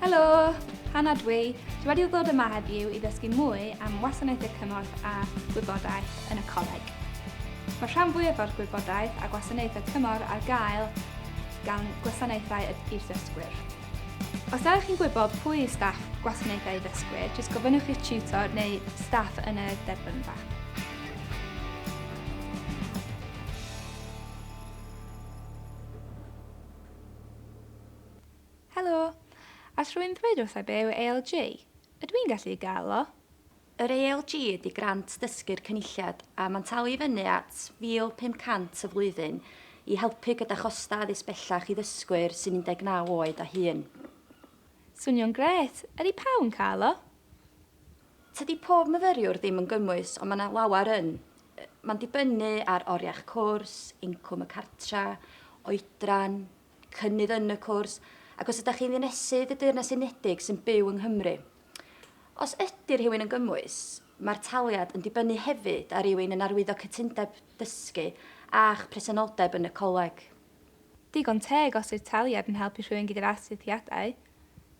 Helo! Hannah dwi. Dwi wedi ddod yma heddiw i ddysgu mwy am wasanaethau cymorth a gwybodaeth yn y coleg. Mae rhan fwyaf o'r gwybodaeth a gwasanaethau cymorth ar gael gan gwasanaethau i'r ddysgwyr. Os ydych chi'n gwybod pwy yw staff gwasanaethau ddysgwyr, jyst gofynnwch i'ch tutor neu staff yn y derbynfa. Helo! All rhywun ddweud wrtha i be yw ALG? Ydw i'n gallu gael o? Yr ALG ydy grant dysgu'r Cynulliad a mae'n talu i fyny at £1,500 y flwyddyn i helpu gyda chostau addysg bellach i ddysgwyr sy'n 19 oed a hŷn. Swnio'n grêt! Ydy pawb yn cael o? Tydi pob myfyriwr ddim yn gymwys ond mae 'na lawer yn. Mae'n dibynnu ar oriau'ch cwrs, incwm y cartra, oedran, cynnydd yn y cwrs, ac os ydych chi'n ddinesydd y Deyrnas Unedig sy'n byw yng Nghymru. Os ydy rhywun yn gymwys, mae'r taliad yn dibynnu hefyd ar rywun yn arwyddo cytundeb dysgu a'ch presenoldeb yn y coleg. Digon teg os yw'r taliad yn helpu rhywun gyda'r astudiadau.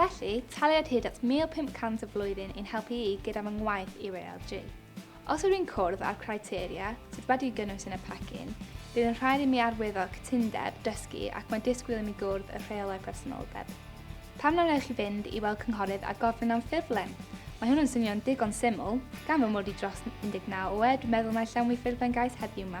Felly, taliad hyd at 1,500 y flwyddyn i'n helpu i gyda fy ngwaith UALG. Os ydw i'n cwrdd â'r criteria sydd wedi'u gynnwys yn y pecyn, bydd yn rhaid i mi arwyddo cytundeb dysgu ac mae disgwyl i mi gwrdd y rheolau presenoldeb. Pam na wnewch chi fynd i weld cynghorydd a gofyn am ffurflen? Mae hwn yn swnio'n digon syml, gan fy mod i dros 19 oed, dwi'n meddwl naill am wi ffurflen gais heddiw 'ma.